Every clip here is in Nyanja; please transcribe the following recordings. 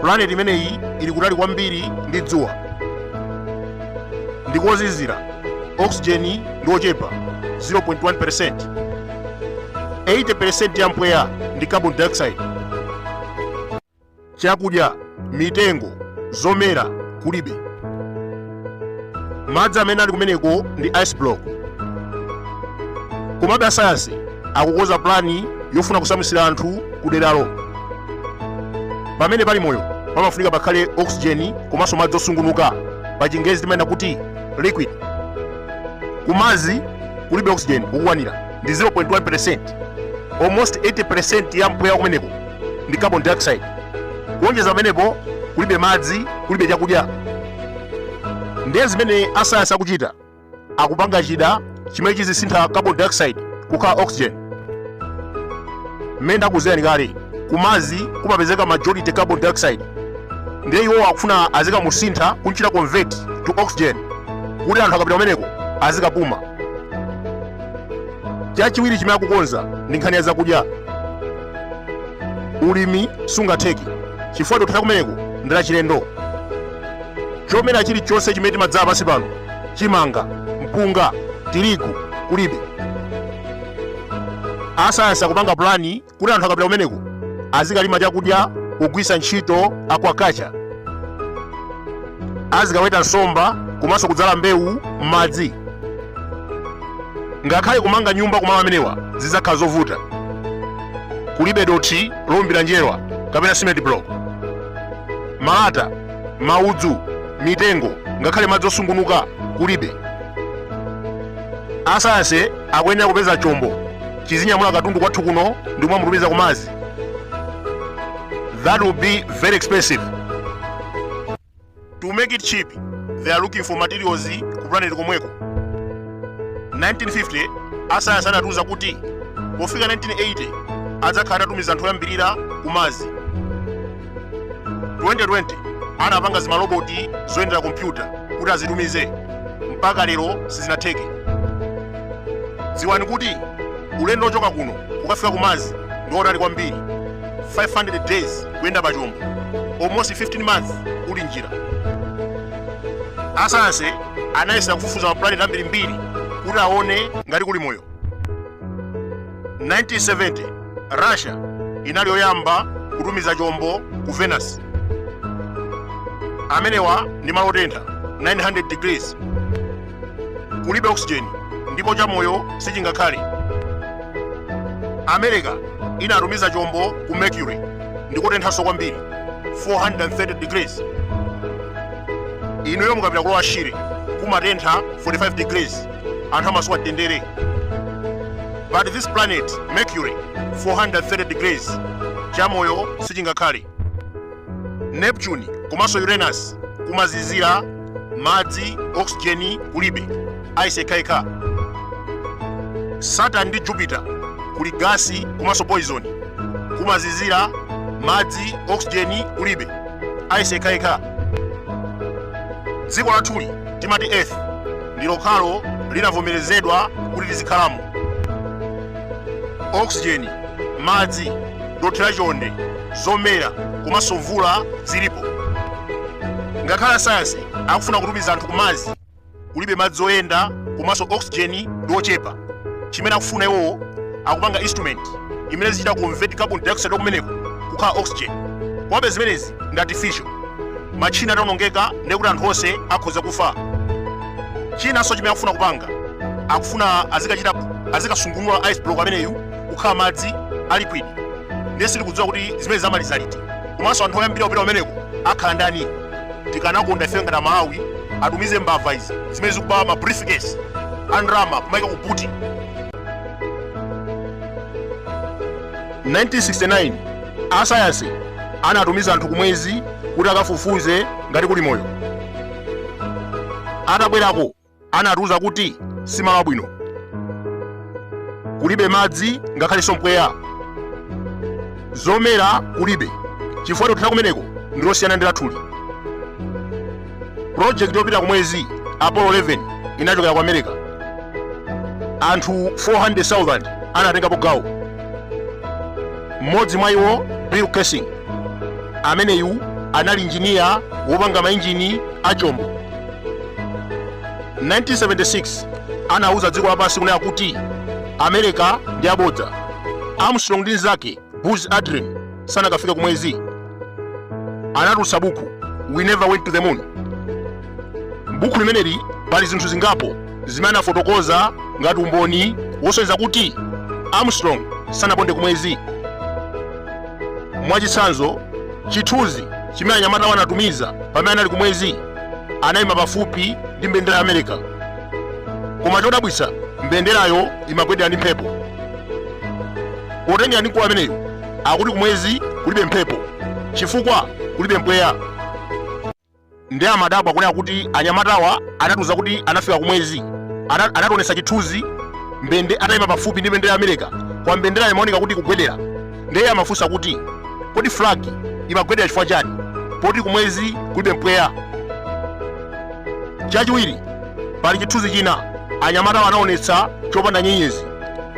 pulaneti imeneyi ili kutali kwambiri ndi dzuwa ndi kozizira oxygen ndi ochepa 0.1% 80% ya mpweya ndi carbon dioxide Chakudya, mitengo, zomera kulibe. Madzi amene ali kumeneko ndi ice block. Komabe asayansi akukonza pulani yofuna kusamutsira anthu ku deralo. Pamene pali moyo pamafunika pakhale oxygen komanso madzi osungunuka pa chingerezi timanena kuti liquid. Ku Mars kulibe oxygen okukwanira ndi 0.1%. Almost 80% ya mpweya kumeneko ndi carbon dioxide kuonjeza pamenepo kulibe madzi kulibe chakudya ndiye zimene asayansi akuchita akupanga chida chimene chizisintha carbon dioxide kukhala oxygen mmene ndakuuzirani kale ku Mars kumapezeka majority carbon dioxide ndiye iwo akufuna azikamusintha kunchita convert to oxygen kuti anthu akapita kumeneko azikapuma chachiwiri chimene akukonza ndi nkhani ya zakudya ulimi sungatheke chifukwa dothi la kumeneko ndi lachilendo chomera chilichonse chimene timadzala pansi pano chimanga mpunga tirigu kulibe asayansi akupanga pulani kuti anthu akapita kumeneko azikalima chakudya kugwiritsa ntchito aquaculture azikaweta nsomba komanso kudzala mbewu m'madzi ngakhale kumanga nyumba kumalo amenewa zidzakhala zovuta kulibe dothi lowumbira njerwa kapena cement block malata maudzu mitengo ngakhale madzi osungunuka kulibe asayansi akuyenera kupeza chombo chizinyamula katundu kwathu kuno ndi kumamutumiza ku Mars that will be very expensive to make it cheap they are looking for materials ku planet komweko 1950 asayansi adatiuza kuti pofika 1980 adzakhala atatumiza anthu oyambirira ku Mars 2020 anapanga zimaloboti zoyendera kompyuta kuti azitumize mpaka lero sizinatheke dziwani kuti ulendo wochoka kuno kukafika ku Mars ndi otali kwambiri 500 days kuyenda pa chombo almost 15 months uli njira asayansi anayesa kufufuza maplaneti ambirimbiri kuti aone ngati kuli moyo 1970 russia inali yoyamba kutumiza chombo ku venus amenewa ndi malo otentha 900 degrees kulibe oxygen ndipo chamoyo sichingakhale america inatumiza chombo ku mercury ndikotenthanso kwambiri 430 degrees inuyo mukapita ku lower shire kumatentha 45 degrees anthu amasowa mtendere but this planet mercury 430 degrees chamoyo sichingakhale neptune komanso uranus kumazizira madzi oxygen kulibe ice yekhayekha saturn ndi jupiter kuli gasi komanso poison kumazizira madzi oxygen kulibe ice yekhayekha dziko lathuli timati earth ndi lokhalo linavomerezedwa kuti tizikhalamo oxygen madzi dothi la chonde zomera komanso mvula zilipo ngakhale asayansi akufuna kutumiza anthu ku mars kulibe madzi oyenda komanso oxygen ndi yochepa chimene akufuna iwowo akupanga instrument imene izichita convert carbon dioxide kumeneko kukhala oxygen komabe zimenezi ndi artificial matchina ataonongeka ndekuti anthu onse akhoza kufa chinanso chimene akufuna kupanga akufuna azikachita azikasungunula ice block ameneyu kukhala madzi a liquid ndiye sitikudziwa kuti zimenezi amaliza liti komanso anthu oyambira kupita kumeneko akhala ndani tikanakonda ife ngati amalawi atumize mbava izi zimene zikuba ma briefcase a ndalama kumaika ku buti 1969 asayansi anatumiza anthu kumwezi kuti akafufuze ngati kuli moyo atabwerako anatiuza kuti si malo abwino, kulibe madzi ngakhalenso mpweya, zomera kulibe chifukwa dothi la kumeneko ndi losiyana ndi lathuli. Pulojekiti yopita ku mwezi Apollo 11 inachokera ku America. Anthu 400,000 anatengapo gawo. Mmodzi mwa iwo Bill Kaysing, ameneyu anali injiniya wopanga mainjini a chombo. 1976 anauza dziko lapansi kunena kuti america ndi abodza armstrong ndi nzake buzz aldrin sanakafika kumwezi anatulutsa buku we never went to the moon m'buku limeneli pali zinthu zingapo zimene anafotokoza ngati umboni wosonyeza kuti armstrong sanaponde kumwezi mwachitsanzo chithunzi chimene anyamatawa anatumiza pamene anali kumwezi anayima pafupi ndi mbendera ya america koma chodabwitsa mbenderayo imagwedera ndi mphepo potengera ndi mkulu ameneyo akuti kumwezi kulibe mphepo chifukwa kulibe mpweya ndi amadabwa kunena kuti anyamatawa anatiuza kuti anafika kumwezi Ana- anationetsa chithunzi mbende atayima pafupi ndi mbendera ya america koma mbenderayo imaoneka kuti ikugwedera ndeye amafunsa kuti kodi flag imagwedera chifukwa chani poti kumwezi kulibe mpweya chachiwiri pali chithunzi china anyamatawa anaonetsa chopanda nyenyezi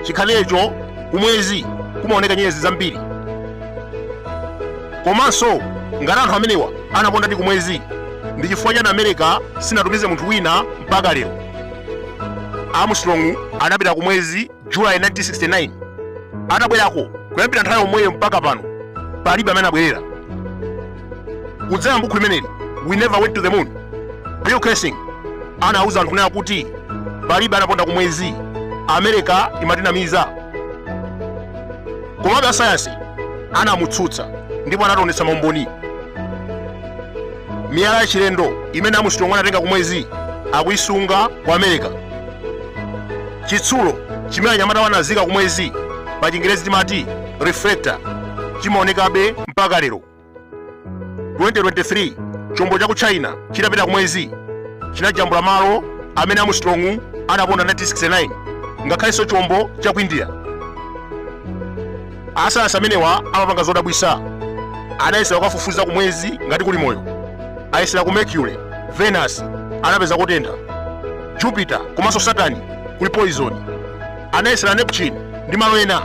chikhalecho kumwezi kumaoneka nyenyezi zambiri komanso ngati anthu amenewa anapondadi kumwezi ndi chifukwa chani america sinatumize munthu wina mpaka lero armstrong anapita kumwezi July 1969 atabwerako kuyambira nthawi yomweyo mpaka pano palibe amene anabwerera kudzera mbukhu limeneli we never went to the moon bill kaysing anauza anthu kunena kuti palibe anaponda ku mwezi amerika imatinamiza komabe asayansi anamutsutsa ndipo anationetsa maumboni miyala yachilendo imene armstrong anatenga ku mwezi akuisunga ku amerika chitsulo chimene anyamatawa anazika kumwezi pa chingerezi timati reflector chimaonekabe mpaka lero 2023 chombo cha ku china chitapita kumwezi chinajambula malo amene armstrong anaponda 1969 ngakhalenso chombo cha ku india asayansi amenewa amapanga zodabwisa anayesera kukafufuza ku mwezi ngati kuli moyo ayesera ku mercury venus anapeza kotentha jupiter komanso saturn kuli poison anayesera neptune ndi malo ena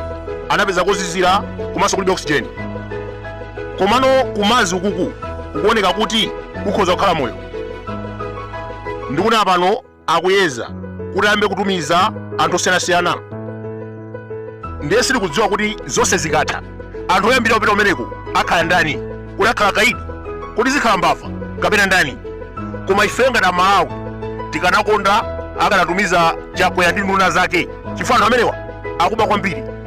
anapeza kozizira komanso kulibe oxygen komano ku mars ukuku kukuoneka kuti kukhoza kukhala moyo ndikunena pano akuyeza kuti ayambe kutumiza anthu osiyanasiyana ndiye sitikudziwa kuti zonse zikatha anthu oyambira kupita kumeneko akhala ndani kodi akhala akaidi kodi zikhala mbava kapena ndani koma ife ngati amalawi tikanakonda akanatumiza chakwera ndi nduna zake chifukwa anthu amenewa akuba kwambiri